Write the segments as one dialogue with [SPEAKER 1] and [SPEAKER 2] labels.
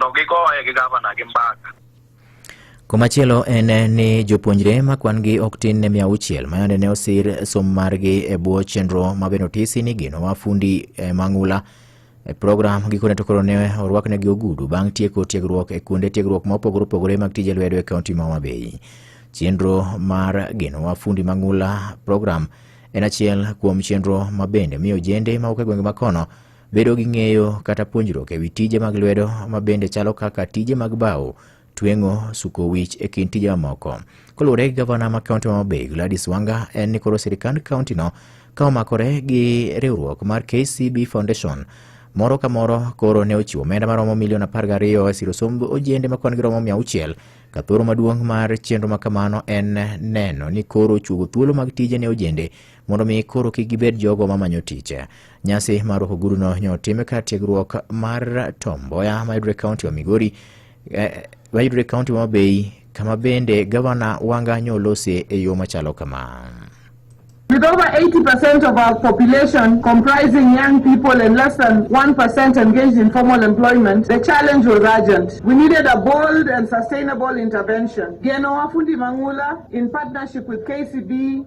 [SPEAKER 1] to gigoye gi gavana gi mbaka.
[SPEAKER 2] Komachielo en ni jopuonjre ma kwan-gi ok tin ne mia auchiel mayande ne osir somo margi e bwo chenro ma bende otisi ni gino wa fundi e mang'ula e program gikone to koro ne orwaknegi ogudu bang' tieko tiegruok e kuonde tiegruok ma opogore opogore mag tije lwedo e kaunti ma Homa Bay. Chenro mar gino wa fundi mang'ula program en achiel kuom chenro ma bende miyo ojende mawuok e gwenge ma kono Bedo gi ng'eyo kata puonjruok e wi tije mag lwedo ma bende chalo kaka tije mag bao, tweng'o, suko wich e kind tije mamoko. Koluwore gi gavana ma kaunti ma Homabay, Gladys Wanga, en ni koro sirikand kauntino ka omakore gi riwruok mar KCB Foundation moro ka moro koro ne ochiwo omenda maromo milion apar gariyo e siro somb ojende ma kwan giromo mia auchiel ka thoro maduong' mar chenro ma kamano en neno ni koro ochuogo thuolo mag tije ne ojende mondo mi koro kik gibed jogo mamanyo tich. Nyasi mar rwako oguduno nyo time kar tiegruok mar Tom Mboya mayudore kaunti wa Migori eh, mayudore kaunti wa Mabei kama bende gavana Wanga nyo olose e yo machalo kama. With
[SPEAKER 3] over 80% of our population comprising young people and less than 1% engaged in formal employment, the challenge was urgent. We needed a bold and sustainable intervention. Geno Wafundi Mangula, in partnership with KCB,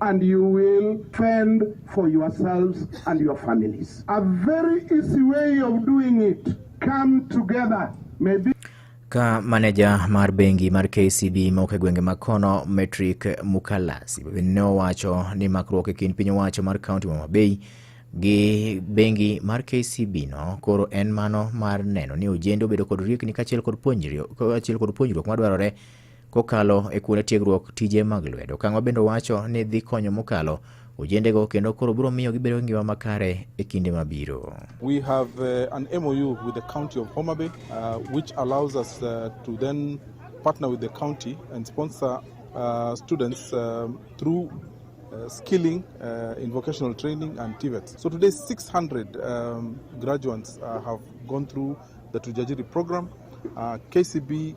[SPEAKER 4] and you will fend for yourselves and your families. A very easy way of doing it. Come together. Maybe Ka
[SPEAKER 2] maneja mar bengi mar KCB mok e gwenge mag kono Metric Mukalasi ne owacho ni makruok e kind piny owacho mar kaunti ma Homa Bay gi bengi mar KCB no koro en mano mar neno ni ojende obedo kod riekni kaachiel kod puonjri- kaachiel kod puonjruok madwarore kokalo e kuonde tiegruok tije mag lwedo. Okang'wa bende owacho ni dhi konyo mokalo ojendego kendo koro biro miyo gibedo gi ngima makare e kinde mabiro. We have
[SPEAKER 5] uh, an MOU with the county of Homa Bay uh, which allows us uh, to then partner with the county and sponsor uh, students um, through uh, skilling uh, in vocational training and TVETs. So today 600 um, graduates uh, have gone through the Tujajiri program. Uh, KCB